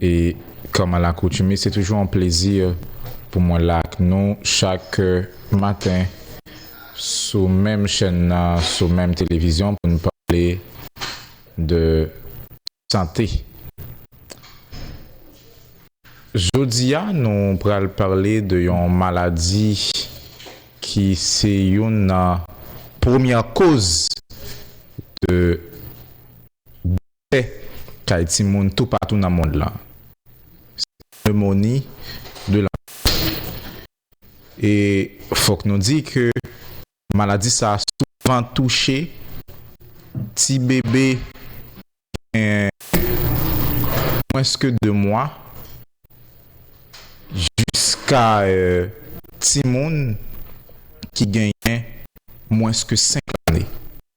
E kòm a lakoutime, se toujou yon plezi pou mwen la ak nou chak maten sou menm chèn nan, sou menm televizyon pou n pale de sante. Jodi a, nou pral pale de yon maladi ki se youn nan premyè koz de. pè kay timoun toupatou nan mond lan. Se pneumonie de l'enfant. E fòk nou di ke maladi sa a souvan touche ti bebe ki gen mwens ke 2 mwa jiska timoun ki genyen mwens ke 5 lane.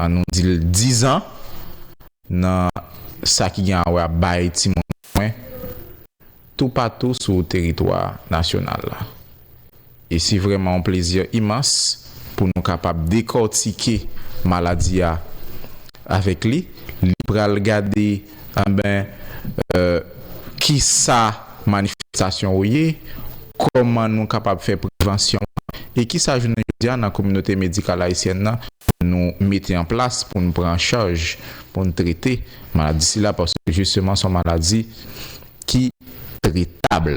An nou di l dizan, nan sa ki gen a wè ap bay timoun swen toupatou sou teritwa nasyonal la. E se vrèman yon plezi imans pou nou kapab dekòtike maladi a avèk li. Li pral gade. Anben kisa manifestasyon yo ye, kòman nou kapab fè prevansyon e kisa jounen jodi a nan kominote medikal ayisyèn nan nou mete an plas pou n pran an chaj, pou n trete maladi sila paske jisteman son maladi ki tretab.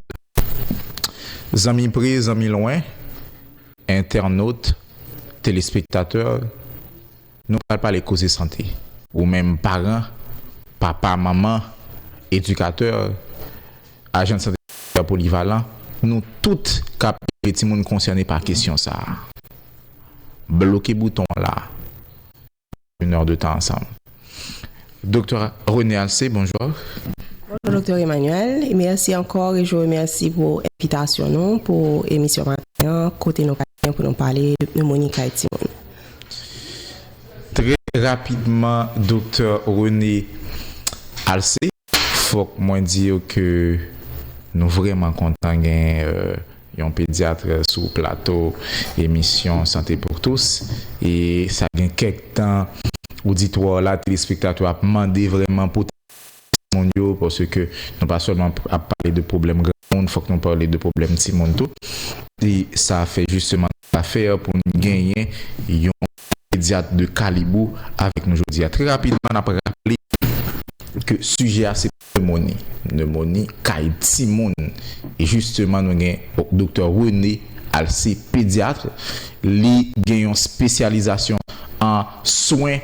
Zanmi pre, zanmi lwen, entènot, telespektatè, Nou pral pale koze sante. Ou menm paran, papa, manman, edikatè, ajan sante kominotè polivalan, nou tout k ap ede timoun konsène pa kesyon sa a. Bloke bouton an la a. N ap pase yon èr de tan ansanm. Doktè René Alcé, bonjou. Bonjou Doktè Emmanuel e mèsi ankò e je remèsi pou envitasyon nou pou emisyon maten an kote nou pral genyen pou nou pale de pneumonie kay timoun. Trè rapidman Doktè René Alcé. Fòk mwen di yo ke nou vrèman kontan gen yon pedyatre sou plato emisyon Santé pour tous e sa gen kèk tan oditwa w la, telespektatè w la ap mande vrèman pou ta. timoun yo paske nou pa sèlman ap pale de pwoblèm granmoun fòk nou pale de pwoblèm timoun tou e sa fè jisteman nou ta fè pou n genyen yon pedyat de kalib ou avèk nou jodi a. Trè rapidman n ap raple ke sijè a se pnemoni, pnemoni kay timoun e jisteman nou gen Doktè René Alcé pedyatre li gen yon spesyalizasyon an swen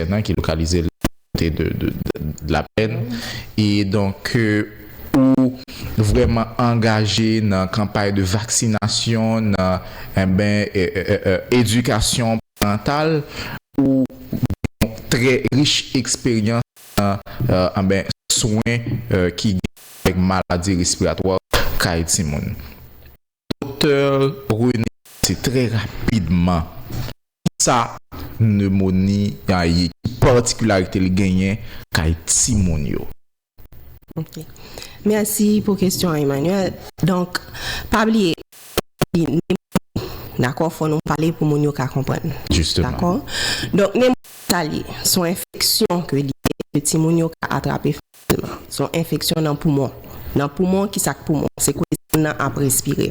Fènan ki lokalize l kote de Dlapèn e donk ke ou vrèman angaje nan kanpay de vaksinasyon nan enben edikasyon parantal ou gen yon trè rich eksperyans nan enben swen ki gen avèk maladi respiratwa kay timoun. Doktè René Pase trè rapidman kisa pneumonie a ye, ki patikilarite li genyen kay timoun yo. Ok. Mèsi pou kesyon an Emmanuel. Donk, pa bliye, pneumonie se maladi nemoni, dakò? Fò nou pale pou moun yo ka konprann. Jisteman. Dakò? Donk nemoni sa li ye? Son enfeksyon ke li ye, ke timoun yo ka atrape fasilman. Asma, se yon enfeksyon nan poumon. Nan poumon, ki sa k poumon? Se kote moun nan ap respire.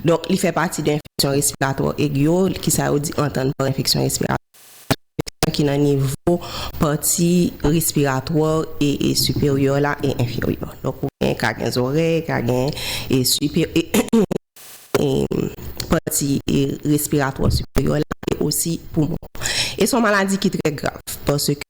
Donk, li fè pati de enfeksyon respiratwa egi yo, ki sa yo di antan pa enfeksyon respiratwa egi. Se yon enfeksyon ki nan nivo pati respiratwa e siperyè la e enferyè. Donk, ou gen ka gen zòrèy, ka gen pati respiratwa siperyè la e osi poumon. E se yon maladi ki trè grav, paske.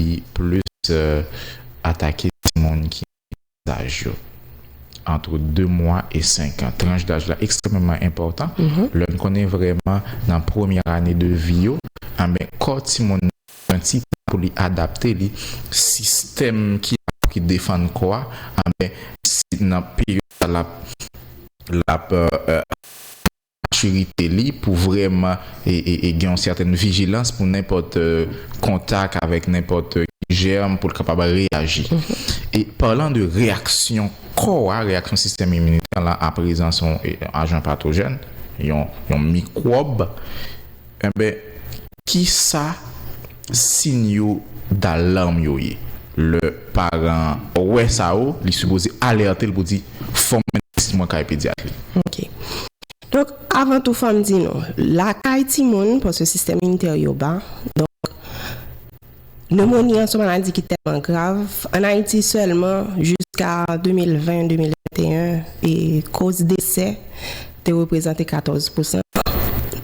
li plis atake timoun ki nan tranch daj yo antre 2 mwa e 5 an. Tranch daj la ekstrèmeman enpòtan, lè n konnen vrèman nan premyè ane de vi yo, anben kò timoun nan pran ti tan pou li adapte li, sistèm ki anba ki defann kò a, anben se nan peryòd sa l ap, l ap. matirite li pou vrèman gen yon sètèn vijilans pou nenpòt kontak avèk nenpòt jèm pou l kapab reyaji. E palan de reyaksyon kò a, reyaksyon sistèm iminitè lan a prezans yon ajan patojèn, yon mikwòb, Enben, ki sa siy yo dalarm yo ye? Lè paran an wè sa yo, li sipoze alète l pou di, Fò m mennen ti mwen kay pedyat li. Ok. Donk, avan tou fò m di nou, lakay timoun, paske sistèm initè yo ba, donk, Nemoni an se yon maladi ki tèlman grav, ann Ayiti sèlman jiska 2020-2021, koz desè te reprezante 14 pousan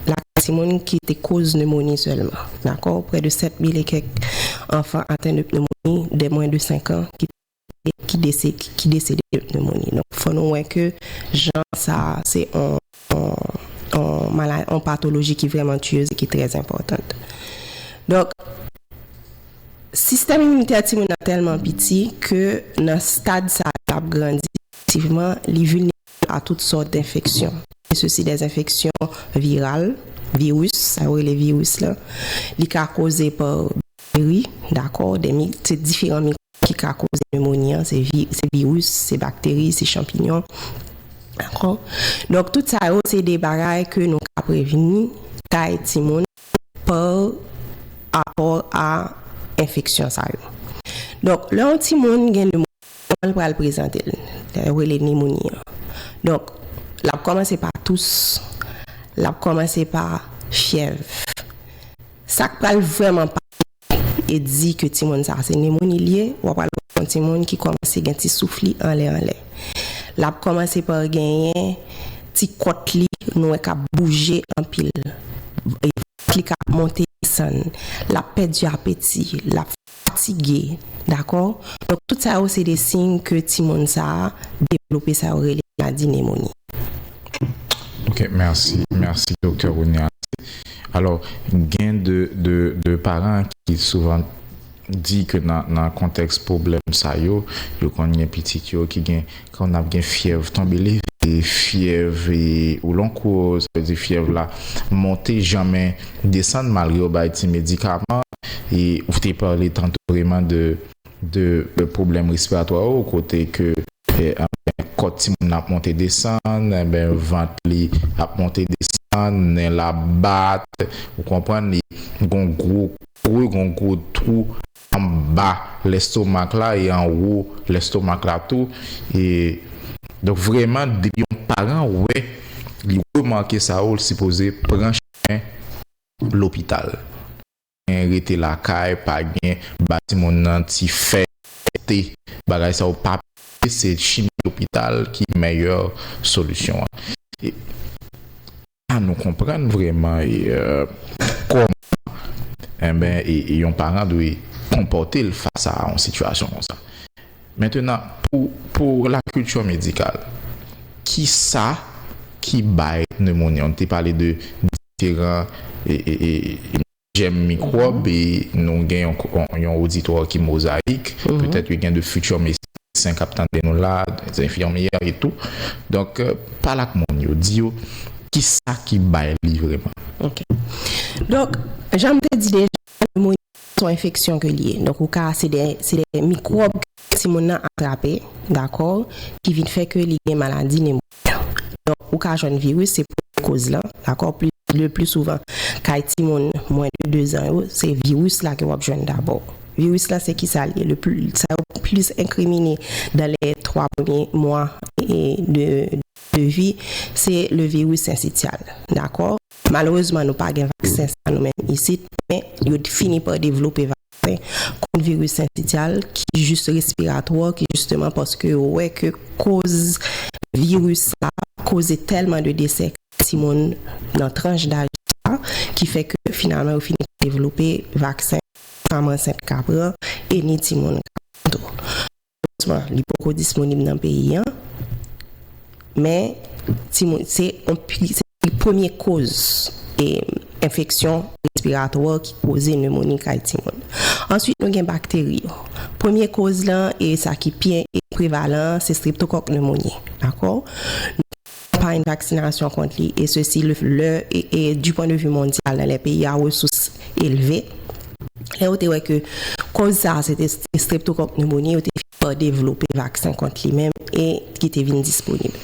lakay timoun ki te koz nemoni sèlman. Dakò, prè de 7 mil e kèk anfan aten de pnemoni dè mwen de 5 an ki te. ki desede de pneumonie. Donk fò nou wè ke jan sa a se yon patoloji ki vrèman tuyeuse e ki trè enpòtant. Donk sistèm iminitè timoun nan tèlman piti ke nan stad sa a lap grandi pwogresivman li vilnerab a tout sòt denfeksyon, e sosi dè enfeksyon viral, viris, sa yo rele viris la, li ka koze pa bakteri, dakò, se diferan mikwòb. ki ka koze nemoni an, se vi, se viris, se bakteri, se chanpinyon. Dakò? Donk tout sa yo se de bagay ke nou ka prevni kay timoun pa rapò a enfeksyon sa yo. Donk lè yon timoun gen nemoni, kòman li pral prezante l? Sa yo rele nemoni an. Donk l ap kòmanse pa tous, l ap kòmanse pa fyèv. Sa k pral vrèman pa e di ke timoun sa se nemoni li ye, wap pral wè yon timoun ki kòmanse gen ti souf li anlè anlè. Lap kòmanse pa genyen ti kòt li nou wè kap bouje anpil, vant li kap monte desann, lap pèdi apeti, lap fatige, dakò? Donk tout sa yo se de siy ke timoun sa devlope sa yo rele maladi nemoni. Ok, merci, merci Docteur Ronial. Alors, gen de parents ki souvan di ke nan konteks problem sa yo, yo konn gen pitit yo ki gen, konn ap gen fyèv tonbe leve, fyèv ou lon kou, sa vle di fyèv la monte janmen desann malgre yo bay ti medikaman, e ou te pale tanto vreman de. de pwoblèm respiratwa yo kote ke anben kòt timoun nan ap monte desann anben vant li ap monte desann nen l ap bat ou konprann li gon gwo kwe gon gwo twou anba lèstomak la e anwo lèstomak la tou e donk vrèman depi yon paran wè li remake sa yo l sipoze pran chimen lopital. gen rete lakay pa gen ba timoun nan ti fè te bagay sa yo pa pase se chimi lopital ki mèyè solisyon an e la nou konprann vreman kòman enben yon paran dwe konpòte l fas a yon sitiyasyon konsa mentenan pou la kilti medikal kisa ki bay nemoni an nou te pale de. diferan jèm mikwòb e nou gen yon oditwa ki mozayik, petèt yo gen de fiti medsen k ap tande nou la, de enfimyè e tou. Donk, pale ak moun yo, di yo kisa ki bay li vreman. Ok. Donk, jan m te di deja, pneumonia Se yon enfeksyon ke li ye. Donk ou ka, se de mikwòb ke timoun nan atrape, dakò, ki vin fè ke li gen maladi nemoni an. Donk ou ka jwenn viris, se premye koz lan, dakò, le pli souvan kay timoun mwen de dezan yo, se viris la ke wap jwenn dabò. Viris la se kisa li ye? Le pli, sa yo plis enkrimine dan le twa premye mwa de vi, se le viris sensityal, dakò. Malerezman nou pa gen vaksen sa nou menm isit, men yo fini pa devlope vaksen kont viris sensityal ki jis respiratwa ki jisteman paske yo wè ke koz viris sa koze tèlman de desè kay timoun nan tranch daj sa ki fè ke finalman yo fini pa devlope vaksen ni fanm ansent ka pran e ni timoun ka pran tou. Malerezman, li poko disponib nan peyi an, men timoun se li premye koz enfeksyon respiratwa ki koze nemoni kay timoun. Answit nou gen bakteri yo. Premye koz lan e sa ki pi prevalan an se streptokòk nemoni. Dakò? kanpay vaksinasyon kont li, e sesi lè e di pwen de vi mondyal nan lè peyi a resous elve, lè yo te wè ke kòz sa a se te streptokòk pneumonie, yo te fini pa devlope vaksen kont li menm e ki te vin disponib.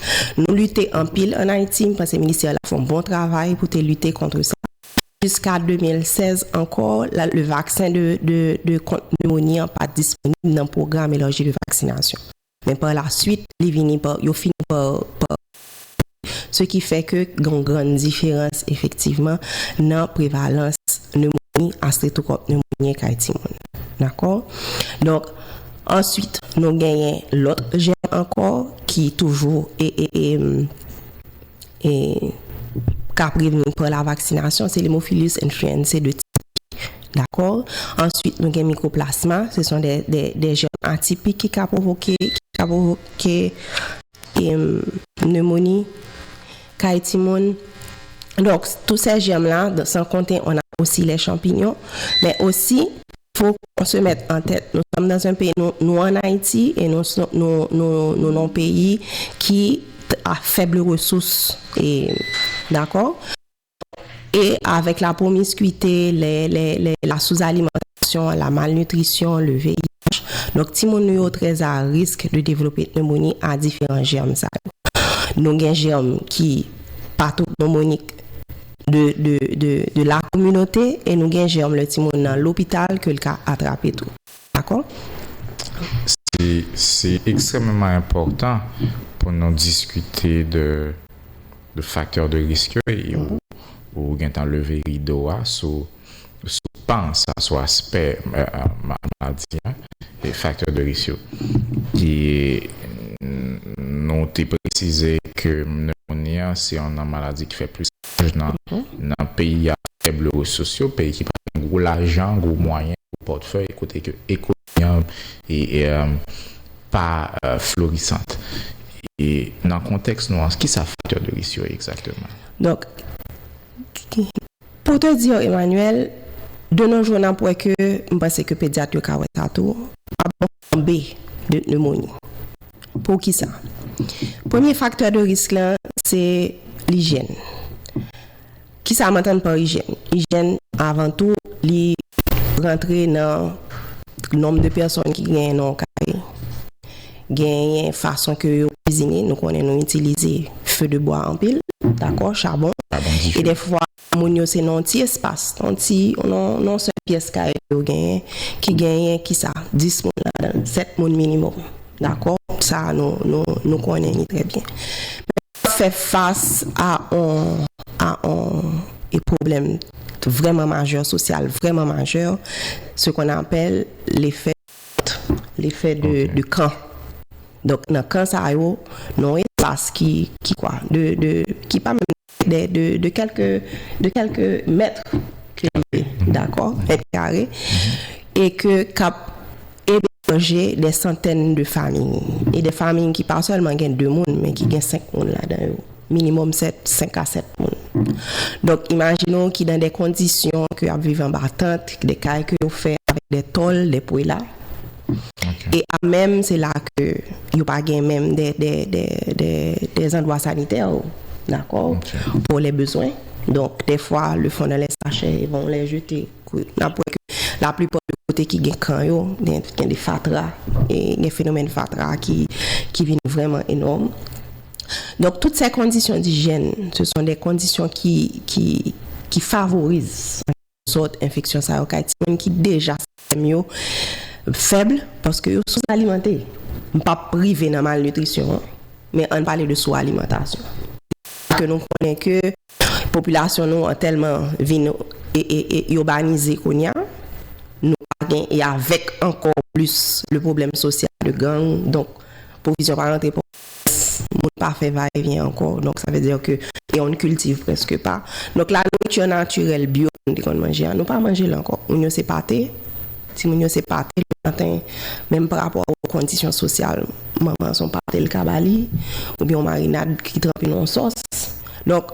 Nou lite anpil an Ayiti, m panse ministè la fè yon bon travay pou te lite kontre sa, jiska 2016 ankò la le vaksen de kont pneumonie an pa disponib nan pwogram elarji de vaksinasyon. Men pa la swit, li vini pa, yo fini pa, pa elimine. Se ki fè ke gen yon grann diferans efektivman nan prevalans nemoni a streptokòk nemonyen kay timoun. Dakò? Donk, answit nou genyen lòt jèm ankò ki toujou e, e, e. e ka prevni pa lavaksinasyon se l'hemophilus influenzae de tip I dakò answit nou gen mikoplasma se son de jèm atipik ki ka pwovoke ki ka pwovoke nemoni kay timoun donk tou sè jèm la san konte on a osi lè chanpinyon men osi fok on se mèt an tèt nou sòm nan zun peyi nou an ayiti e nou nou nou nou nou non peyi ki. a fèble resous e dakò e avèk la promiskwite lè lè lè la souzalimantasyon la malnitrisyon le VIH donk timoun nou yo trè a risk de devlope pnemoni a diferan jèm sa yo nou gen jèm ki patopnemonik de de de de la kominote e nou gen jèm lè timoun nan lopital ke l ka atrape tou. Dakò? Se ekstrèmeman enpòtan pou nou diskite de faktè de risk yo e ou gentan leve rido a sou pan sa, sou aspè maladi a e faktè de risk yo. E nou te presize ke pneumonie an se yon nan maladi ki fè plis. chomaj nan nan peyi a fèble resous yo, peyi ki pa gen gwo lajan, gwo mwayen, gwo pòtfèy kote ke ekonomi an pa florisant. E nan kontèks nou an, kisa faktè de risk yo ye egzakteman? Donk, pou te di w Emmanuel, de no jou n ap wè ke, m panse ke pedyat yo ka wè sa tou, pa bò B. De pneumonie. Poukisa? Premye faktè de risk lan se lijyèn. Kisa m antann pa ijyèn? Ijyèn avan tou li rantre nan nonb de pèsòn ki genyen nan yon kay, genyen fason ke yo kizine, nou konnen nou itilize few de bwa anpil, dakò, chabon, e dèfwa Moun yo se nan yon ti espas, nan yon ti, nan yon sèl pyès kay yo genyen, ki genyen ki sa? 10 moun ladan l, 7 moun minimòm. Dakò? Sa a nou, nou, nou konnen li trè byen. Men lè w ap fè fas a yon, a yon e pwoblèm vrèman majè, sosyal vrèman majè, se kon apèl lefè kont, lefè de, de kan. Donk nan kan sa yo, nan yon espas ki, ki kwa? De, de, ki pa menm de kèlke de kèlke mèt kare dakò mèt kare e ke kap eberje dè santèn de famiy e dè famiy ki pa sèlman gen 2 moun men ki gen 5 moun ladan yo minimòm 7 5 a 7 moun donk imajine w ki dan dè kondisyon ke ap viv anba tant dè kay ke yo fè avèk dè tòl dè pwela. E a menm se la ke yo pa gen menm dè zandwa sanitè ou dakò pou lè bezwen. Donk dè fwa le fon nan lè sachè e bon lè jete kou nap wè ke la plipa de kote ki gen kan yo gen de fatra e gen fenomèn fatra ki vin vreman enòm. Donk tout se kondisyon dijèn se son de kondisyon ki favorize. Sòt enfeksyon sa yo kay timoun ki deja sistèm yo fèb paske yo sou alimante. M pa p rive nan malnitrisyon an men ann pale de sou alimantasyon. Paske nou konnen ke popilasyon nou an tèlman vin ibanize kounya nou pa gen e avèk ankò plis le pwoblèm sosyal de gang donk pwovizyon pa rantre. Pès moun pa fè va e vyen ankò donk sa vle dire ke e on ne cultive presque pas donk la nourriture naturelle bio ke nou te konn manje a nou pa manje l ankò moun yo se pate ti moun yo se pate le maten menm pa rapò a kondisyon sosyal manman an se yon pate l ka ba li ou byen yon marinad ki tranpe nan yon sòs donk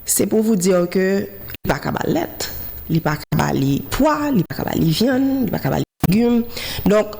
se pou vous dire ke li pa ka ba l lèt li pa ka ba li pwa li pa ka ba li vyann li pa ka ba li legume donk.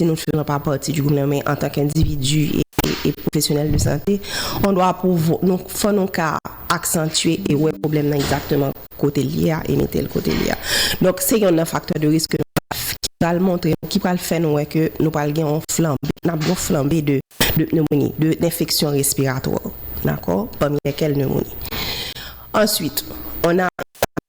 Si nou seulement pa parti du gouvernement men antan k individu e professionnel de santé on doit pouvoir nou fò nou ka aksantye e wè problèm nan egzakteman kote l ye a e mete l kote l ye a donk se yonn nan faktè de risk ke nou ka fè ki pral montre nou ki pral fè nou wè ke nou pral gen on flanbe n ap gen on flanbe de de pneumonie de enfeksyon respiratwa dakò pami lèkèl pneumonie answit on a.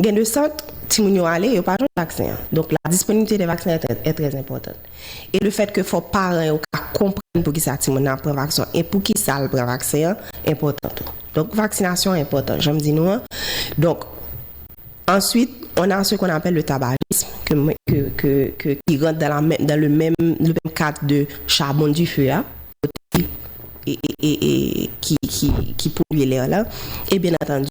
Gen de sant, timoun yo ale, yo pa jwenn vaksen an. Donk la disponiblite de vaksen è trè enpòtan. E le fèt ke fò paran yo ka konprann pou ki sa timoun nan ap pran vaksen an e pou ki sa l pran vaksen an enpòtan tou. Donk vaksinasyon an enpòtan, jan m di nou an. Donk, answit, on a se kon apèl le tabajism ke mwen, ke, ke, ke, ki rant dan la menm, dan le menm, le menm kad de chabon di fe a, e, e, e, e, ki, ki, ki polye lè a la. E byen antandu.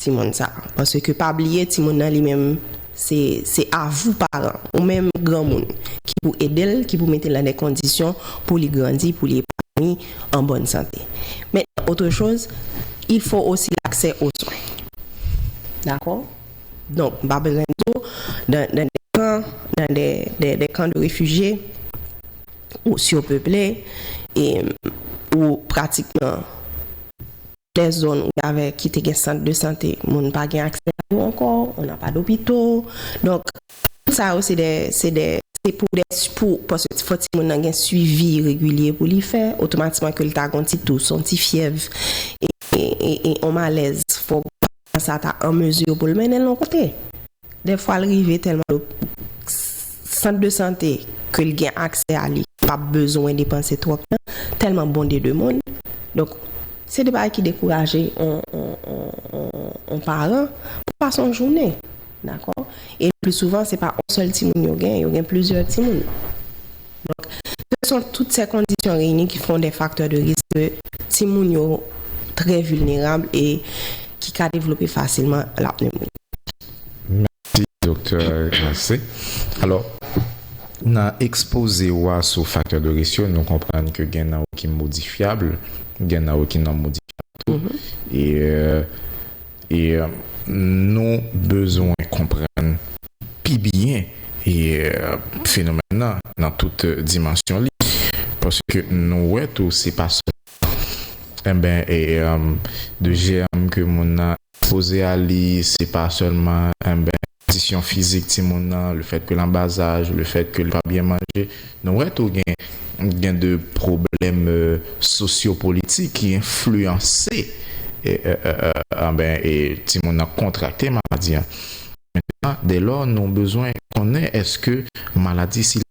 timoun sa paske pa bliye timoun nan li menm se se avou paran ou menm granmoun ki pou edel ki pou metel nan de kondisyon pou li grandi pou li epanoui an bòn sante men otre choz il fo osi laksè o swen dakò donk m pa bezwen di w dan de kan dan de de de kan de refijye ou siw peple e ou pratikman. Dè zòn ou avè ki te gen sant de sante moun pa gen aksè a yo ankò, on a pa dopito. Donk, tout sa yo se dè, se dè, se pou dè, pou, paske fò timoun nan gen swivi regilye pou li fè, otomatikman ke li ta gen yon ti tous, yon ti fyèv, e, e, e, e on malèz, fò. San sa ta an mezi pou l mennen l yon kote. Dèfwa l rive tèlman l okipe sant de sante ke l gen aksè a li pa p bezwen depanse twòp tan tèlman bon de de moun. Donk se de bagay ki dekouraje yon yon yon yon yon paran pou l pase yon jounen. Dakò? E le pli souvan, se pa on sèl timoun yo gen, yo gen plizyè timoun. Donk, se son tout sè kondisyon reyini ki fon dè faktè de risk ke timoun yo trè vilnerab e ki ka devlope fasilman la pneumonie. Mèsi Doktè Grace. Alò, nan ekspoze ou a sou faktè de risk yo, nou konprann ke gen nan yo ki modifyab, gen nan yo ki non-modifyab tou. E. E nou bezwen konprann pi byen fenomèn nan nan tout dimansyon li paske nou wè tou se pa sèlman enben de jèm ke moun nan ekspoze a li se pa sèlman enben Kondisyon fizik timoun nan, le fèt ke l anba zaj, le fèt ke l pa byen manje. Nou wè tou gen gen de pwoblèm sosyopolitik ki enfliyanse anben e timoun nan kontrakte maladi an. Dèlò nou bezwen konnen èske maladi sila.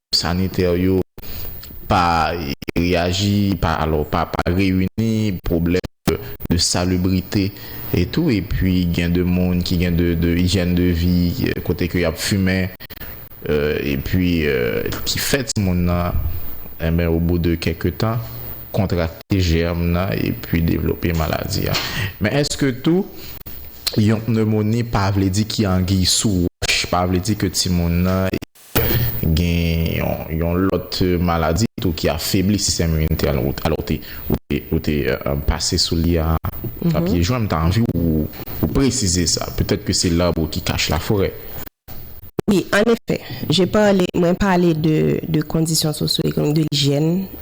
Sanitè yo pa reyaji, pa reyini, pwoblèm de salubrite e tou e pi gen de moun ki gen de hygiène de vie kote ke y ap fimen e pi ki fè ti moun nan enben o bou de kèk tan kontrakte jèm nan e pi devlope maladi a. Men èske tou yon pneumonie pa vle di ki anguiy sou wòch, pa vle di ke ti moun nan. Gen yon lòt maladi tou ki afebli sistèm iminitè an, ou te pase sou li a pye jwen, m ta anvi ou presize sa, petèt ke se l'arbre qui cache la forêt. Wi, an efè, mwen pale de kondisyon sosyo-ekonomik, de lijyèn.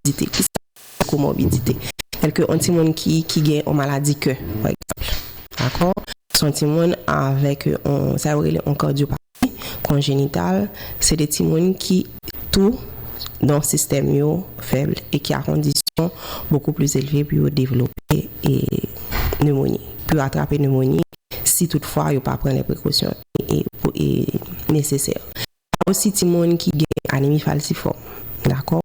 Komorbidite, ki sa ki rele komorbidite? Tèlke yon timoun ki ki gen yon maladi kè, pa egzanp. Dakò? Se yon timoun avèk yon, sa yo rele yon kardyopathi konjenital. Se de timoun ki tou don sistèm yo fèb e ki a kondisyon bokou plis elve pou yo devlope e nemoni, pou yo atrape nemoni si tout fwa yo pa pran lè prekosyon e e nesesè. Pa osi timoun ki gen anemi falsifòm, dakò,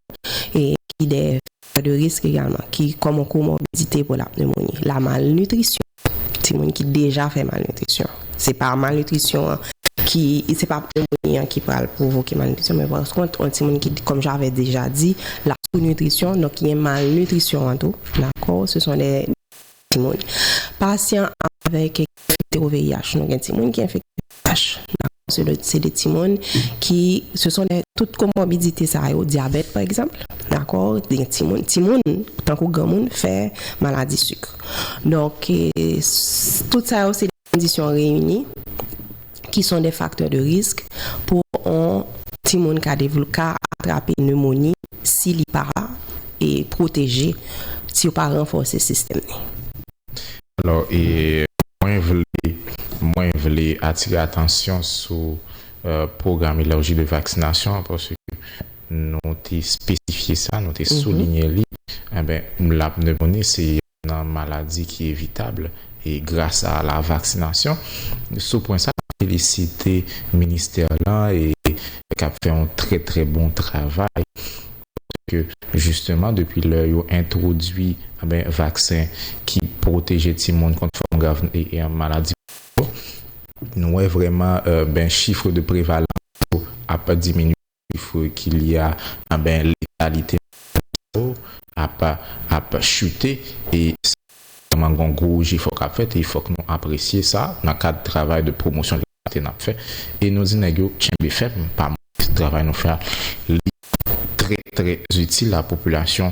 e ki de faktè de risk egalman, ki kòm komorbidite pou la pneumonie. La malnitrisyon, timoun ki deja fè malnitrisyon, se pa malnitrisyon an ki, se pa pneumonie an ki pral pwovoke malnitrisyon, men paskont yon timoun ki, kòm j'avais déjà dit, la sous-nutrition, donk ki gen malnitrisyon an tou, dakò, se son de. timoun pasyan avèk ki enfekte o VIH nou gen timoun ki enfekte o VIH nan se de se de timoun ki se son de tout komòbidite sa yo dyabèt pa egzanp dakò gen timoun timoun tankou granmoun fè maladi sik donk tout sa yo se. kondisyon reyini ki son de faktè de risk pou on timoun ka devl ka atrape nemoni si li pa e pwoteje, si yo pa ranfòse sistèm ni. Alò e mwen vle mwen vle atire atansyon sou pwogram elarji de vaksinasyon an paske nou te espesifye sa, nou te soulinye li, anben lap nemoni se. nan maladi ki evitab e gras a la vaksinasyon. Sou pwen sa, mwen felisite ministè lan e k ap fè yon trè trè bon travay paske jisteman depi lè yo entwodui vaksen ki pwoteje timoun kont fòm grav maladi polyo, nou wè vrèman chif de prevalans yo ap diminye. chifr ki li a anben letalite nan sa yo ap ap chute e sa vrèman gon gwo jefò kap fèt e fòk nou apresye sa nan kad travay de pwomosyon letalite nap fè e nou di nèg yo tchenbe fèm pa mouri travay nou fè a li trè trè itil a popilasyon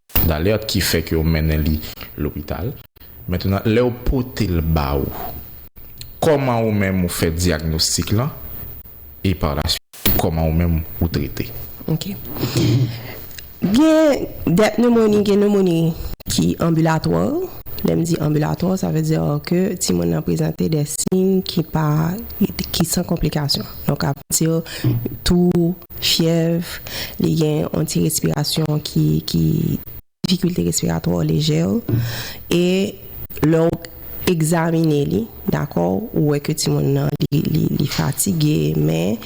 D'alerte ki fè ke yo mennen li lopital. Mentnan lè yo pote l ba ou, kòman ou menm ou fè dyagnostik lan e par la suite kòman ou menm ou trete? Ok. Gen dè pneumonie, gen pneumonie ki anbilatwa. Lè m di anbilatwa, sa vle di ke timoun nan prezante dè siy ki pa, ki san konplikasyon. Donk a vle di tou. Fyèv, li gen yon ti respirasyon ki, ki, difikilte respiratwa lejè w, e lè w egzamine li, dakò, ou wè ke timoun nan li, li, li fatige, men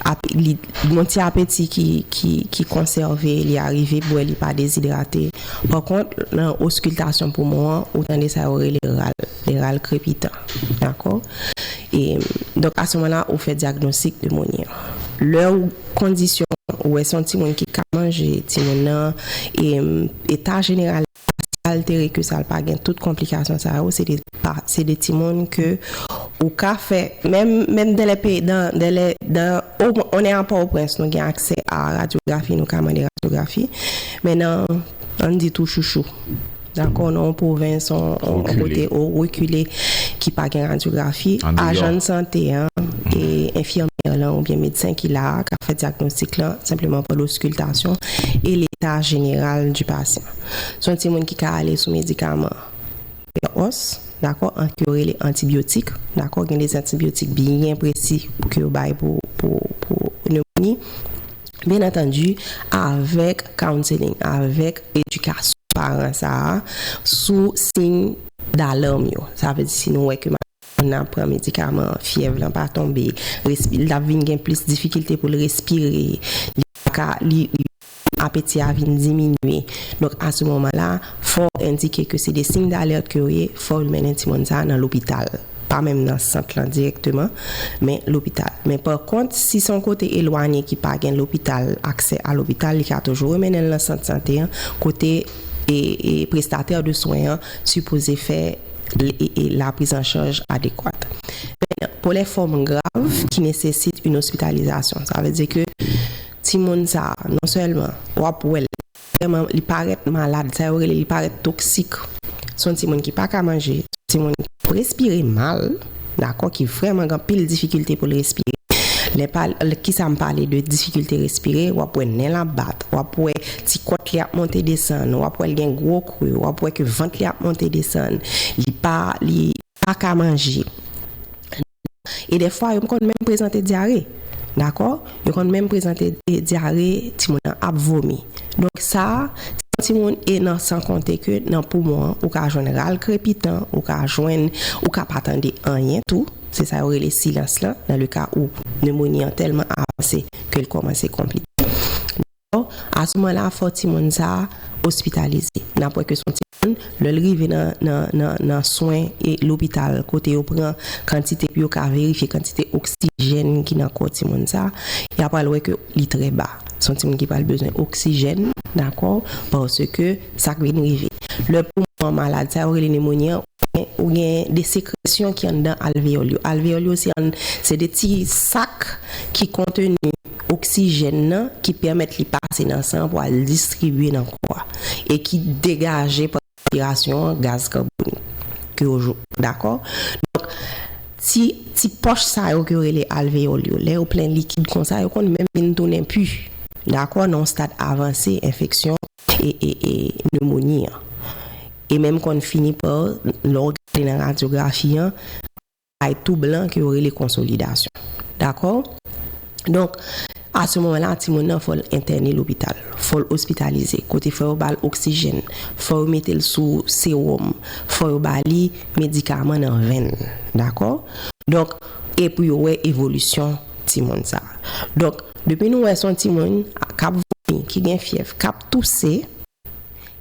ap, li, yon ti apeti ki, ki, ki konsève, li arive bwè, li pa dezidrate. Pa kont, nan oskiltasyon poumon an, ou tande sa yo rele ral, de ral krepitan. Dakò? Donk a se moman la ou fè dyagnostik nemoni an. Lè ou kondisyon ou wè se yon timoun ki ka manje, timoun nan eta jeneral li pa si altere ke sa l pa gen tout konplikasyon sa yo, se de timoun ke ou ka fè menm dèlè peyi dèlè dan on è a Pòtoprens nou gen aksè a radyografi nou ka mande radyografi men nan an n di tou chouchou. Dakò nan yon pwovens, yon kote ou rekile ki pa gen radyografi, ajan sante an, enfimyè lan oubyen medsen ki la a k ap fè dyagnostik lan senpleman pral oskiltasyon e leta jeneral di pasyan. Se yon timoun ki ka ale sou medikaman pèòs, dakò, ke yo rele antibyotik, dakò, gen de zantibyotik byen presi pou ke yo bay pou nemoni. Byen antandi, avèk counseling, avèk edikasyon paran sa a sou siy dalèm yo. Sa vle di si nou wè ke madanm ou nan pran medikaman an, fyèv lan pa tonbe, respi, l ap vin gen plis difikilte pou l respire, li pa ka, li, apeti a vin diminye. Donk a se moman la, fò w endike ke se de siy dalèt ke yo ye, fò w mennen timoun sa a nan lopital. pa menm nan sant lan dirèkteman, men lopital. Men pa kont, si se yon kote elwanye ki pa gen lopital, aksè a lopital, li ka toujou remennen l nan sant sante an, kote prestatè de swen an sipoze fè laprizanchaj adekwat. Men, pou lè fòm grav ki nesesit yn ospitalizasyon, sa vle di ke timoun sa a, non sèlman w ap wè l, Premyèman, li parèt malad. Sa yo rele li parèt toksik. Se yon timoun ki pa ka manje. Se yon timoun ki ap respire mal, dakò, ki vrèman gen anpil difikilte pou l respire. Lè pa, ki sa m pale de difikilte respire? W ap wè nen l ap bat. W ap wè ti kòt li ap monte desann. W ap wè l gen gwo kri. W ap wè ke vant li ap monte desann. Li pa, li pa ka manje. e dèfwa yo konn menm prezante dyare dakò yo konn menm prezante dyare timoun nan ap vomi donk sa se yon timoun e nan san konte ke nan poumon an ou ka jwenn ral krepitan ou ka jwenn ou ka pa tande anyen tou se sa yo rele silans lan nan le ka ou nemoni an tèlman avanse ke l kòmanse konplike. Asouman la fò timoun sa a ospitalize. N ap wè ke s on timoun, lè l rive nan swen lopital kote yo pran kantite pou yo ka verifye kantite oksijèn ki nan kò timoun sa a, y apral wè ke li trè ba. S on timoun ki pral bezwen oksijèn, dakò, paske sa k vin rive, lè poumon an malad, sa yo rele nemoni an, ou gen de sekresyon ki anndan alveyòl yo. Alveyòl yo se ann, se de ti sak ki konteni oksijèn nan ki pèmèt li pase nan san pou al distribye nan kò a e ki degaje pandan respirasyon an gaz kabonik ke yo jou, dakò? Donk, ti, ti pòch sa yo ke yo rele alveyòl yo, lè yo plen likid konsa, yo konn menm vin tounen pu, dakò, nan yon stad avanse enfeksyon pneumonie an. E menm konn fini pa, lè w gade nan radyografi an, bay tou blan ke yo rele konsolidasyon. Dakò? Donk, a se moman la, timoun nan fò l entène lopital. Fò l ospitalize. Kote fò yo ba l oksijèn. Fò yo mete l sou sewòm. Fò yo ba li medikaman nan venn. Dakò? Donk, e pou yo wè evolisyon timoun sa a. Donk. Depi nou wè son timoun kap vomi, ki gen fyèv, kap touse,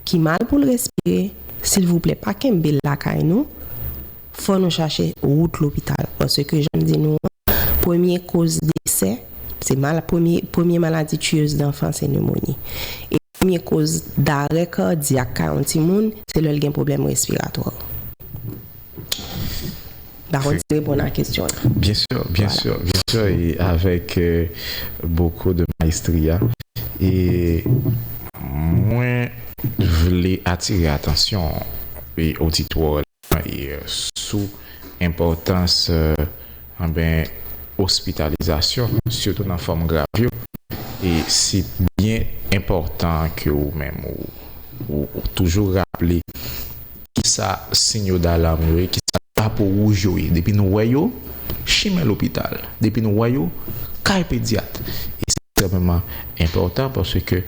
ki mal poul respire, silvouplè pa kenbel lakay nou, fò nou chache wout lopital paske janm di nou an premye koz desè se mal premye premye maladi tiyez danfan se nemoni e Premye koz darè kadyak ka yon timoun se lè l gen pwoblèm respiratwa. M pa konn si m reponn a kesyon an. Byen sè, byen sè, byen sè e avèk boko de maestria. E mwen vle atire atansyon oditwa. sou enpòtans ospitalizasyon sitou nan fòm grav yo e si byen enpòtan ke ou menm ou toujou raple kisa sinyo dalam yo ye, kisa drapo wouj yo ye depi nou wè yo chimen lopital, depi nou wè yo kay pedyat e se ekstrèmeman. enpòtan paske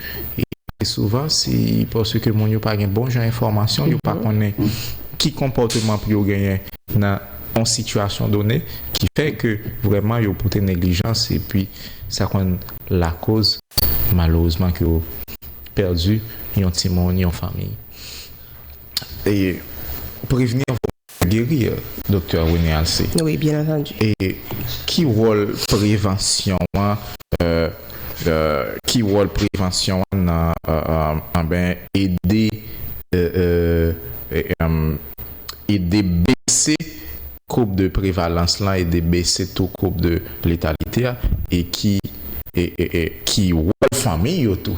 souvan si paske moun yo pa gen bon jan enfòmasyon yo pa konnen ki konpòteman pou yo genyen nan yon sitiyasyon done ki fè ke vrèman yo pote neglijans epi sa konn lakoz malerezman ke yo pèdi yon timoun, yon fanmiy. Prevni anvan. geri yo, Doktè René Alcé? Wi, byen antandi. E ki wòl prevansyon an, ki wòl prevansyon an nan, anben, ede, ede bese koub de prevalans lan, ede bese tou koub de letalite a, e ki, e, e, e ki wòl fanmi yo tou?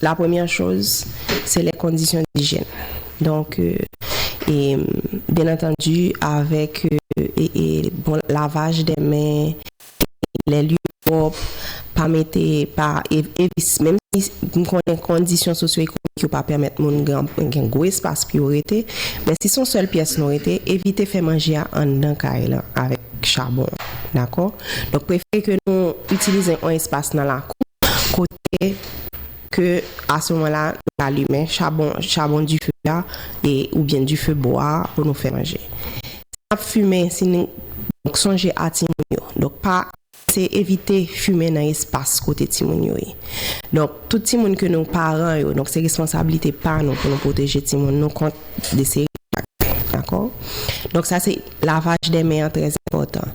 La premyè choz, se lè kondisyon dijèn. Donk, e, byen antandu, avèk, e, e, bon lavaj dè men, e, lè lye pwòp, pa mete, pa, e, evi, menm si m konnen kondisyon sosyoekonomik yo pa pèmèt moun gran, gen gwo espas pou yo rete, men si son sèl pyès nou rete, evite fè manje a anndan kay lan avèk chabon. Dakò? Donk, prefere ke nou itilize on espas nan lakou kote. ke a se moman la nou ka limen chabon, chabon dife a, e oubyen dife bwa a pou nou fè manje. Si n ap fimen, si n, donk sonje a timoun yo, donk pa, se evite fimen nan espas kote timoun yo ye. Donk tout timoun ke nou paran yo, donk se responsablite pa nou pou nou pwoteje timoun nou kont de seri de bagay, dakò? Donk sa se lavaj dè men an trè enpòtan.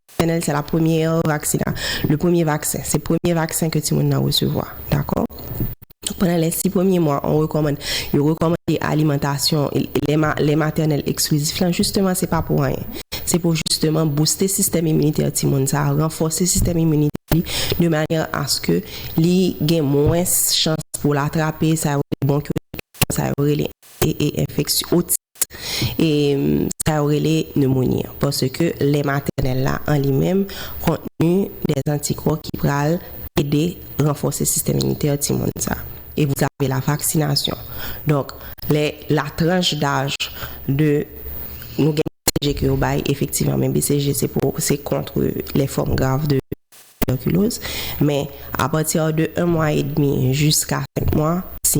Fennel se la premyè vaksina, le premye vaksen, se premye vaksen ke timoun nan resevwa, dakò? Pandan lè si premye mwa on rekòmand, yo rekòmande alimantasyon lè matènèl eksklizif lan jisteman se pa pou anyen, se pou jisteman bouste sistèm iminitè timoun sa, ranfòse sistèm iminitè li de manyè aske li gen mwens chans pou l atrape sa yo rele bwonkyolit, sa yo rele e e enfeksyon, otis. e sa yo rele nemoni an paske lè matènèl la an li menm kontni de antikò ki pral ede ranfòse sistèm imitè timoun sa e pou sa se la vaksinasyon donk lè la tranch daj de nou gen bcg ke yo bay efektivman men bcg se pou se kontre lè fòm grav de tibèkiloz men apati de 1 mwa edmi jiska 5 mwa si.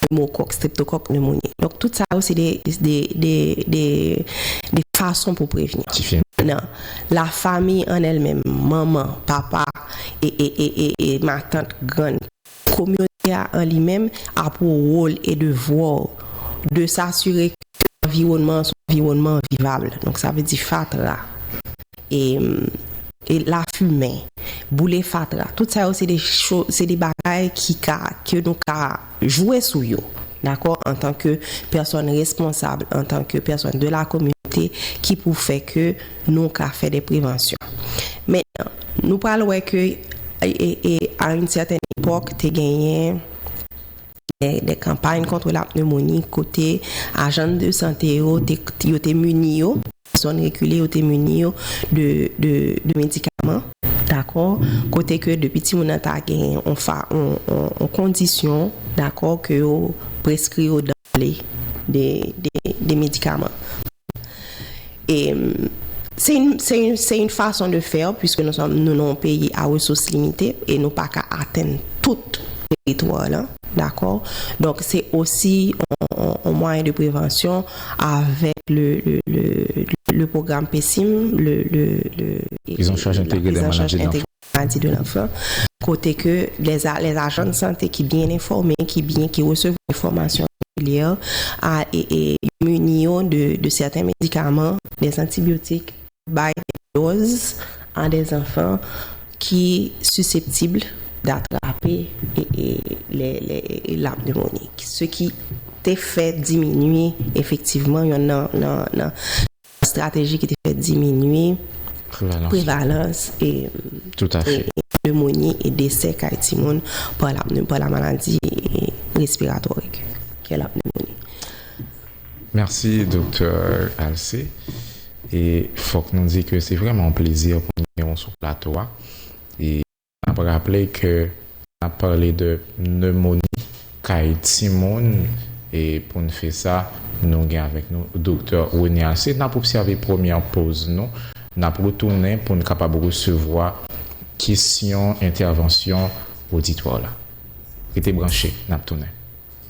pneumokòk, streptokòk, nemoni. Donk tout sa yo se de fason pou prevni. Ki fè. Nan la fami an èl menm, manman, papa, e matant, grann. Kominote a an li menm ap wou wòl e devwa w de sasire ke anviwònman an se yon anviwònman vivab. Donk sa vle di fatra. e lafimen, boule fatra, tout sa yo se de cho, se de bagay ki ka, ke nou ka jwe sou yo, dakò, antan ke pèsòn responsab, antan ke pèsòn de la kominote, ki pou fè ke nou ka fè de prevansyon. Mentnan, nou pral wè ke, e a yn sètèn epòk, te genyen de kanpay kontre lapnemoni, kote ajann de sante yo, te, yo te mini yo, Zòn rekile yo te mini yo de medikaman. Dakò, kote ke depi timoun nan ta gen yon kondisyon, dakò, ke yo preskri yo danble de medikaman. E se yon fason de fè, pwiske nou sòm nou yon peyi a resous limite, e nou pa ka atenn tout teritwa lan, dakò. Donk se osi yon mwayen de prevansyon. avèk le pwogram PCIM, la prise en charge intégrée des maladies de l'enfant, kote ke les agents de santé ki byen enfòme, ki resevwa yon fòmasyon regilyè, yo mini yo de sèten medikaman, des antibiotiques, bay dòz a dè zanfan ki siseptib datrape la pneumonie, se ki te fè diminye efektivman yonn nan estrateji ki te fè diminye prevalans pneumonie e desè kay timoun pa la maladi respiratoire kè la pneumonie. Mèsi Doktè Alcé e fòk nou di ke se vrèman yon plezi pou nou gen ou sou plato a e n ap raple ke n ap pale de nemoni kay timoun e pou n fè sa nou gen avèk nou Doktè Rony Alcé. N ap obsève premyè poz nou n ap retounen pou n kapab resevwa kesyon entèvansyon oditwa w la. Rete branche n ap tounen.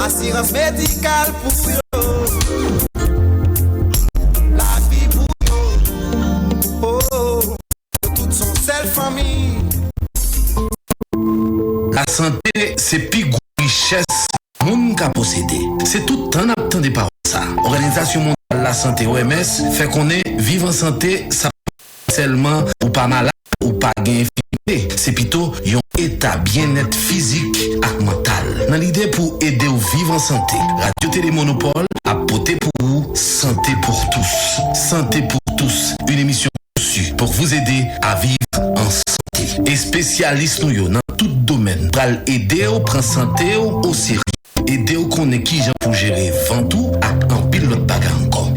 Asirans medikal pou yo. Lavi pou yo. Oh, yo tout son sèl fanmi. Lasante se pi gwo richès moun ka posede. Se tout tan n ap tande pawòl sa. Òganizasyon Mondyal Lasante, OMS, fè konnen viv an sante sa pa vle di sèlman ou pa malad. Ou pa gen enfimite, se pito yon eta byennèt fizik ak mantal. Nan lide pou ede w viv an sante, Radyo Tele Monopol ap pote pou ou Santé pour tous, Santé pour tous, une émission conçue pour vous aider à vivre en santé. Espesyalis nou yo nan tout domèn pral ede w pran sante w oserye, ede w konnen kijan pou jere vant ou ak anpil lòt bagay ankò.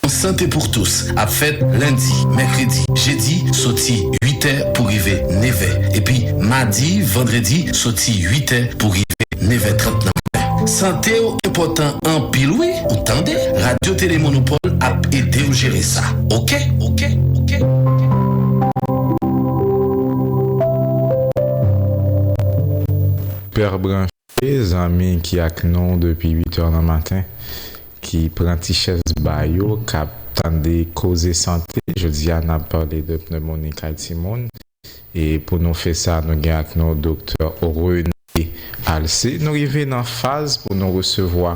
Yon sante pour tous ap fèt lendi, mèkredi, jedi soti 8 è pou rive 9 è epi madi, vandredi soti 8 è pou rive 9 è 30 nan maten. Sante w enpòtan anpil wi ou tande, Radio Télé Monopole ap ede w jere sa ok ok ok ok. Père branche Ke zanmi ki ak nou depi 8 heures nan maten, ki pran ti chèz ba yo, k ap tande koze sante, jodi a n ap pale de pneumonie kay timoun, e pou nou fè sa nou gen ak nou Doktè René Alcé. Nou rive nan faz pou nou resevwa.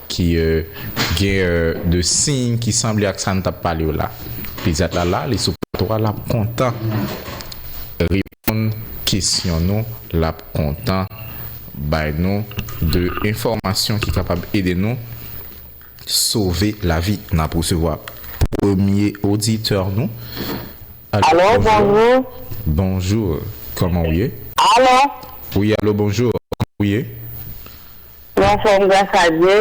Ki Gen de siy ki sanble ak sa n tap pale yo la. Pedyat la la, li sou plato a, lap kontan reponn kesyon nou, lap kontan bay nou de enfòmasyon ki kapab ede nou sove lavi. Nap resevwa premye oditè nou. Alo bonjou. Bonjou, kòman ou ye? Alo. Wi alo bonjou, kòman ou ye? Ou anfòm gras a Dye?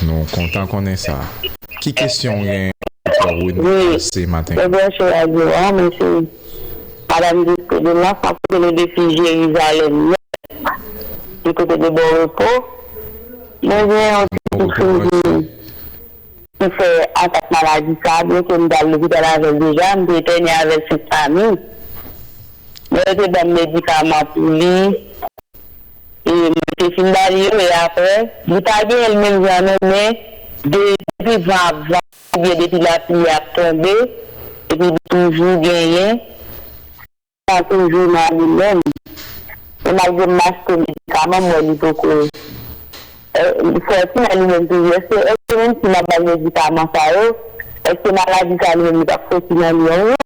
Nou kontan konnen sa. Ki kesyon ou genyen pou Doktè Rony Alcé maten an? Mwen branche radyo a, mwen se Madam Gisco Delmas, map koute nou depi Jerizalèm Nèf, du côté de Bon Repos. Mwen gen yon ti kousou ki fè atak maladi sa, byen ke m t al lopital avè l deja, m te etène avè l sou Stamil, men yo te banm medikaman pou li. e mwen te fin bali yo e aprè li pa genyenl menm jan non men depi van ap vante ou byen depi lapli ap tonbe epi li toujou genyen san toujou nan li menm e malgre m achte medikaman m wè li poko sòti nan li menm toujou eske menm si map bal medikaman sa yo eske maladi sa li menm li pap sòti nan li yon jou.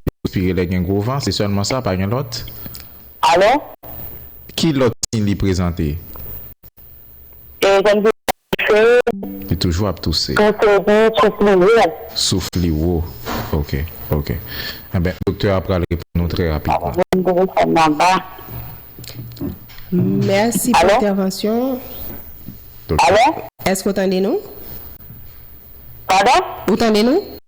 Yo respire lè gen gwo van, se sèlman sa, pa gen lòt? Alò? Ki lòt siy li prezante? E kòmsi li ap touse? Li toujou ap touse. Touse epi souf li wo. Souf li wo. Ok. Ok. Enben, doktè a pral reponn nou trè rapidman. Alò, mete telefòn nan ba. Mèsi pou entèvansyon ou. Alò? Èske ou tande nou? Padon? Ou tande nou?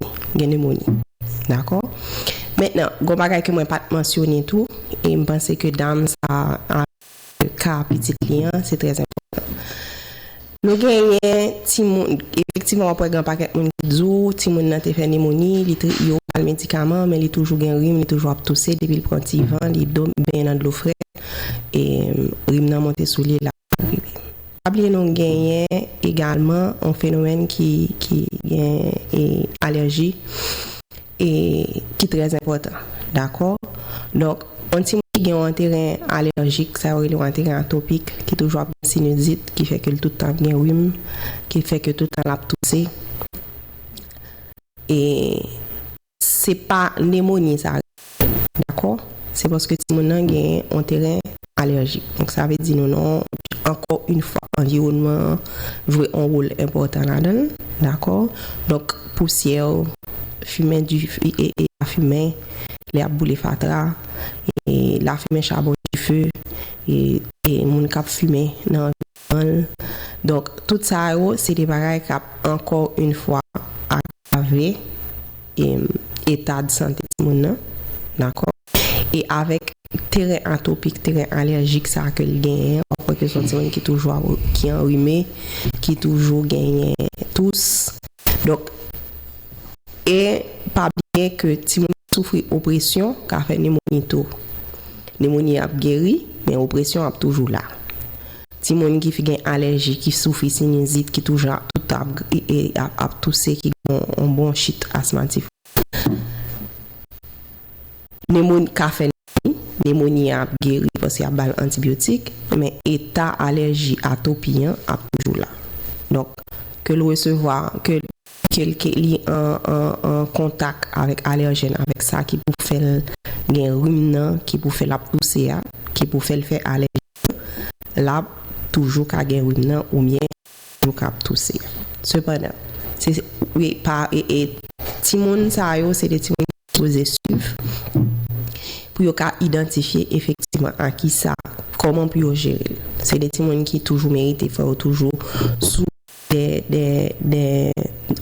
Bon, gen nemoni. Dakò. Mentnan, gon bagay ke mwen pa t mansyone tou, e m panse ke dam sa a, avèk ka pitit li an, se trè enpòtan. Nou genyen timoun, efektivman w ap wè gen pakèt moun ki di w, timoun nan te fè nemoni, li te, yo ba l medikaman, men li toujou gen rim, li toujou ap touse, depi l pran ti van, li do, benyen nan dlo frèt, e rim nan monte sou li, l ap. Pa bliye nou genyen egalman yon fenomèn ki gen e alèji e ki trè enpòtan dakò donk yon timoun ki gen yon anteren alèjik sa yo rele yon anteren atopik ki toujou ap gen sinizit ki fè ke l tout tan ap gen rim ki fè ke tout tan lap touse e. Se pa nemoni sa rele dakò se paske timoun nan genyen on teren alèjik donk sa vle di nou nan ankò yn fwa anviwònman an jwe on wol enpòtan ladann dakò donk pousyè fimen dife e lafimen lè yap boule fatra e lafimen chabon dife e moun kap fimen nan anviwònman l donk tout sa yo se de bagay kap ankò yn fwa ak. Agrave eta de sante timoun nan, dakò? E avèk teren atopik, teren alèjik sa a ke li genyen an, wap wè ke se yon timoun ki toujou ap, ki anrime, ki toujou genyen tous. Donk, e pa bliye ke timoun ki soufri opresyon ka fè nemoni tou. Nemoni ap geri, men opresyon ap toujou la. Timoun ki gen alèji, ki soufri sinizit, ki toujou ap tout ap e ap touse, ki gen yon bwonchit asmatik. Nemoni ka fè nemoni, nemoni an ap geri paske y ap ba l antibyotik, men eta alèji, atopi an, ap toujou la. Donk, ke l resevwa, ke l, ke l, ke li an, an, an kontak avèk alèjèn, avèk sa ki pou fè l gen rim nan, ki pou fè l ap touse a, ki pou fè l fè alèji. lap toujou ka gen rim nan oubyen toujou ka ap touse. Sepandan, se pa timoun sa yo se de timoun ki sipoze swiv pou yo ka idantifye efektivman a kisa, kòman pou yo jere l. Se de timoun ki toujou merite fò yo toujou sou. de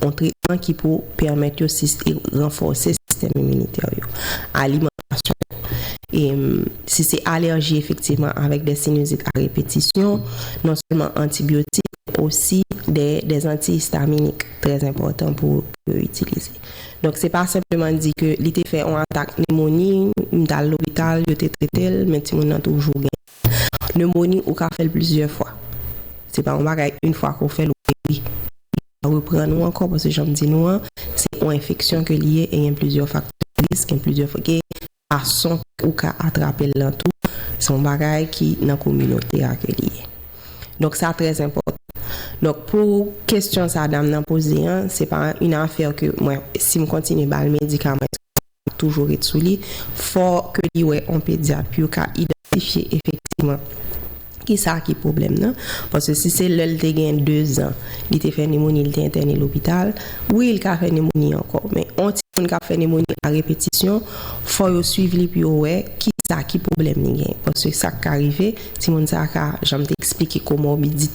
yon tretman ki pou pèmèt yo ranfòse sistèm iminitè yo. Alimantasyon, si se alèji efektivman avèk de sinizit a repetisyon, non sèlman antibyotik, osi de anti-istaminik trè enpòtan pou yo itilize. Donk se pa senpleman di ke li te fè yon atak nemoni, li t al lopital, yo te trete l, men timoun nan toujou gen. Nemoni ou ka fèl plizyè fwa se pa yon bagay yn fwa ke w fèl ou geri li pa reprann ou ankò paske janm di nou an se yon enfeksyon ke li ye e gen plizyè faktè de risk gen plizyè gen fason ou ka atrapel lan tou se yon bagay ki nan kominote a ke li ye donk sa trè enpòtan donk pou kesyon sa dam nan poze an se pa yn afè ke mwen sim kontinye bal medikaman èske. toujou ret sou li, fò ke li wè on pedyat pou yo ka idantifye efektiman ki sa ki pwoblèm nan. Paske si se lè l te gen 2 zan, li te fè nemoni, li te entène lopital, wi li ka fè nemoni ankò. Men on timoun k ap fè nemoni a repetisyon, fò yo swiv li pou yo wè ki sa ki pwoblèm li gen. Paske sa k ka rive, timoun sa a ka, jan m te eksplike, komorbidite.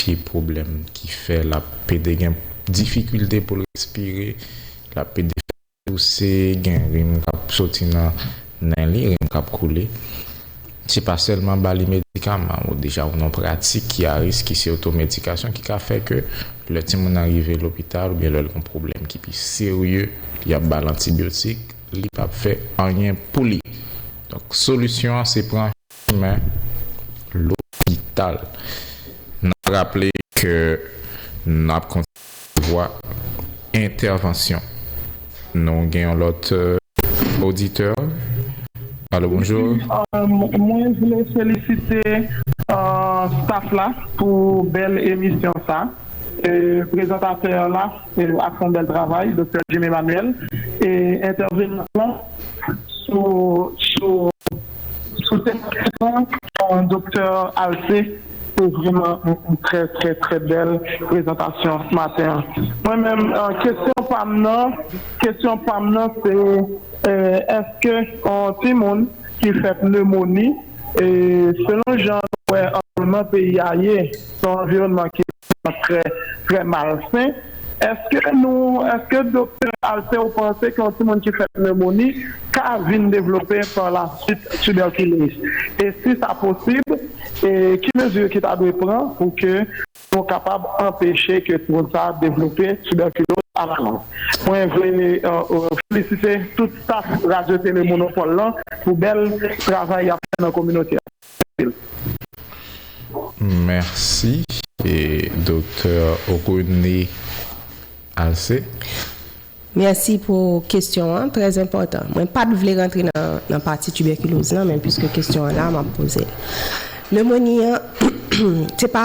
Pye pwoblèm ki fè l ap pede gen difikilte pou l respire, l ap pede fè touse, gen rim k ap soti nan nen li, rim k ap koule. Se pa sèlman ba li medikaman ou deja ou nan yon pratik ki a risk, ki se otomedikasyon ki ka fè ke lè timoun nan rive lopital oubyen lè l gen yon pwoblèm ki pi serye, y ap ba l antibyotik, li p ap fè anyen pou li. Donk solisyon an se pran. chemen lopital. N ap raple ke n ap kontinye resevwa entèvansyon. Nou gen yon lòt oditè. Alo, bonjou. Mwen vle felisite staff la pou bèl emisyon sa. Prezantatè la ap fè yon bèl travay, Doktè Jim Emmanuel, e entèvenan lan sou. Sou tematik lan Doktè Alcé se vreman yon trè trè trè bèl prezantasyon maten an. Mwen menm kesyon pam nan kesyon pam nan se èske yon timoun ki fèt nemoni selon jan nou wè anviwònman peyi a ye. Se yon anviwònman ki vrèman trè, trè malsen. Èske nou, èske Doktè Alcé ou panse ke yon timoun ki fè pnewmoni ka vin devlope pa la swit tibèkiloz? E si sa posib, e ki mezi ki ta dwe pran pou ke nou kapab anpeche ke timoun sa a devlope tibèkiloz a la long? Mwen vle felisite tout staf Radyo Tele Monopòl lan pou bèl travay y ap fè nan kominote a. Mèsi Doktè Rene Alcé. Mèsi pou kesyon an, trè enpòtan. Mwen pa t vle rantre nan pati tibèkiloz lan men piske kesyon an la m ap poze l. Nemoni an se pa.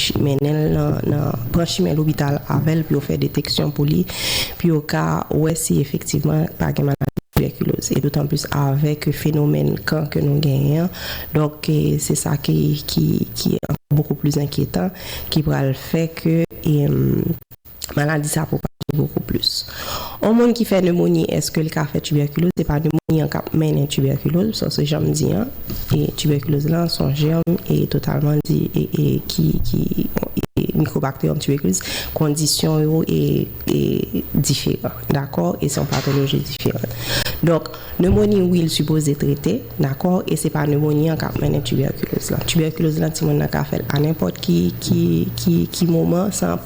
Chi mennen l nan pran chimen lopital avè l pou yo fè deteksyon pou li pou yo ka wè si efektivman l pa gen maladi tibèkiloz e dotanplis avè ke fenomèn kan ke nou genyen an donk se sa ki ki ki ankò boukou pli enkyetan ki pral fè ke. maladi sa pwopaje bokou plis. On moun ki fè nemoni eske l ka fè tibèkiloz? Se pa nemoni an k ap mennen tibèkiloz, paske jan m di an, tibèkiloz lan s on jèm e totalman di e ki mikwobakteriyòm tibèkiloz, kondisyon yo e diferan, dakò, e s on patoloji diferan. Donk, nemoni wi l sipoze trete, dakò, e se pa nemoni an k ap mennen tibèkiloz lan. Tibèkiloz lan timoun nan ka fè l anenpòt ki moman san.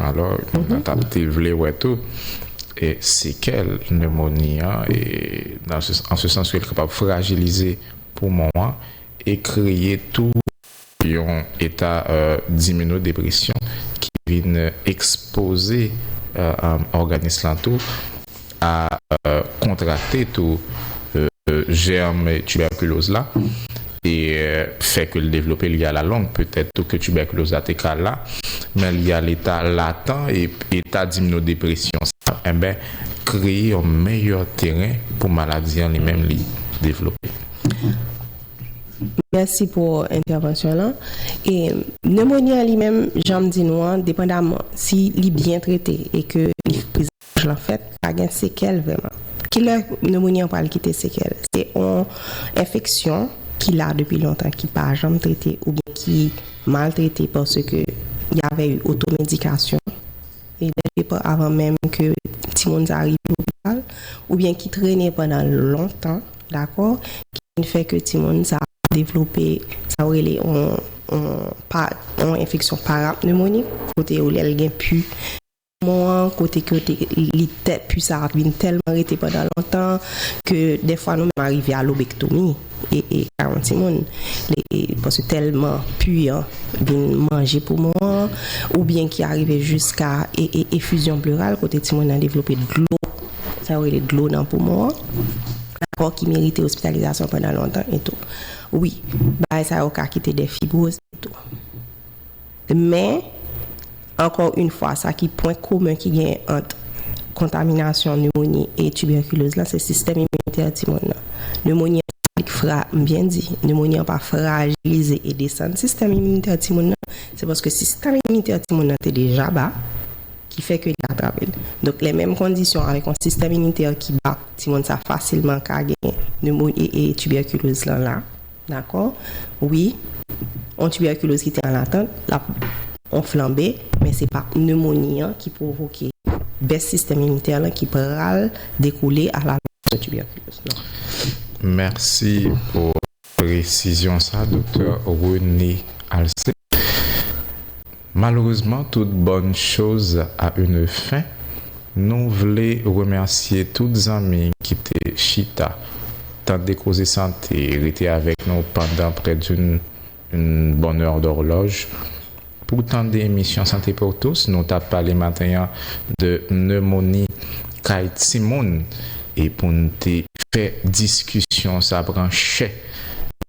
Alò, nou ta te vle wè tou sekèl nemoni an, an se sans ke li kapab frajilize poumon an e kreye tou yon eta diminodepresyon ki vin ekspoze òganis lan tou a kontrakte tou jèrm tibèkiloz la e fè ke l devlope li alalong. Petèt tou ke tibèkiloz la te ka la, men li al eta latan e eta dimnodepresyon sa enben kreye yon meyè teren pou maladi an li menm li devlope. Mèsi pou entèvansyon w lan. E nemoni an li menm, janm di nou an, depandaman si li byen trete e ke li prezante. Anfèt, pa gen sekèl vrèman. Ki lè neumoni an pral kite sekèl? Se yon enfeksyon ki la depi lontan, ki pa janm trete oubyen ki mal trete paske y avè yon otomedikasyon, e dèl depa avan menm ke timoun sa a rive lopital, oubyen ki trene pandan lontan, dakò, ki vin fè ke timoun sa a devlope sa yo rele yon pa, yon enfeksyon parapnemonik, kote yo lè l gen pu. Mò an, kote ke yo te li tèt, pu sa ap vin tèlman rete pandan lontan, ke dèfwa nou menm arive a lobektomi, e e karon timoun, e e paske tèlman pu an vin manje poumon an, oubyen ki arive jiska e e efizyon pleural, kote timoun nan devlope dlo, sa yo rele dlo nan poumon an, dakò, ki merite ospitalizasyon pandan lontan e tou. Wi, bagay sa yo ka kite dè fibwoz e tou. Men, ankò yn fwa, sa ki pwen komen ki genyen ant kontaminasyon nemoni e tibèkiloz la, se sistèm iminitè timoun nan. Nemoni an pa vle fra, m byen di, nemoni an pa frajilize e desann sistèm iminitè timoun nan, se paske sistèm iminitè timoun nan te deja ba, ki fè ke li atrape l. Donk, lè menm kondisyon avèk yon sistèm iminitè ki ba, timoun sa fasilman ka genyen nemoni e tibèkiloz lan la. Dakò wi, on tibèkiloz ki te an latant, l ap on flanbe, men se pa pnemoni an ki pwovoke bès sistèm iminitè lan ki pral dekoule alavant yon tibèkiloz non. Mèsi pou presizyon sa, Doktè René Alcé. Malheureusement toute bonne chose a une fin, nou vle remèsye tout zanmi ki te chita tande koze sante, rete avèk nou pandan près d'une une bonne heure d'horloge pou tande emisyon Santé pour tous, nou tap pale maten an de pneumonie kay timoun e poun te fè diskisyon sa pran chè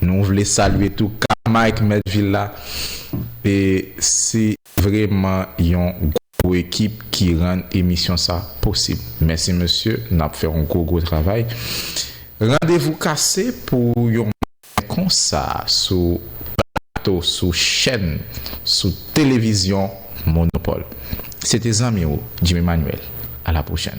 Nou vle salye tou K Mike mèt vil la e se vreman yon gwo ekip ki rann emisyon sa posib. Mèsi mesye nap fè yon gwo gwo travay. Randevou kase pou yon maten konsa sou plato sou chèn sou televizyon Monopole. Se te zanmi w Jimmy Manuel. A la pwochèn.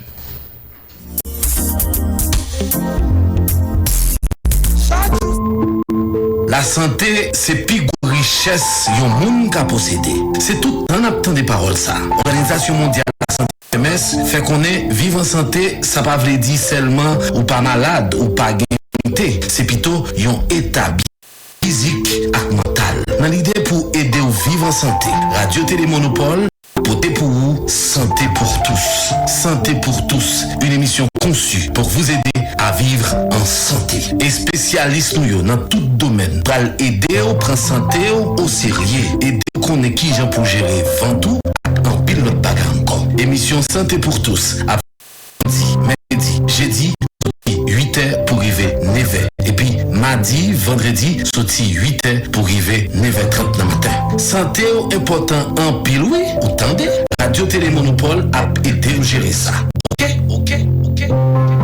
Lasante se pi gwo richès yon moun ka posede. Se tout tan n ap tande pawòl sa. Òganizasyon mondyal lasante, OMS, fè konnen viv an sante sa pa vle di sèlman ou pa malad, ou pa gen enfimite. Se pito yon eta byenèt fizik ak mantal. Nan lide pou ede w viv an sante, Radyo Tele Monopòl. Pote pou ou Santé pour tous Santé pour tous, une émission conçue pour vous aider à vivre en santé. Espesyalis nou yo nan tout domèn pral ede w pran sante w oserye, ede w konnen kijan pou w jere vant ou ak anpil lòt bagay ankò. Emisyon Santé pour tous ap. Samdi, mèkredi, jedi, soti 8 è pou rive 9 è, epi madi, vandredi, soti 8 è pou rive 9 è 30 nan maten. Sante w enpòtan anpil wi ou tande, Radyo Tele Monopòl ap ede w jere sa ok ok ok ok.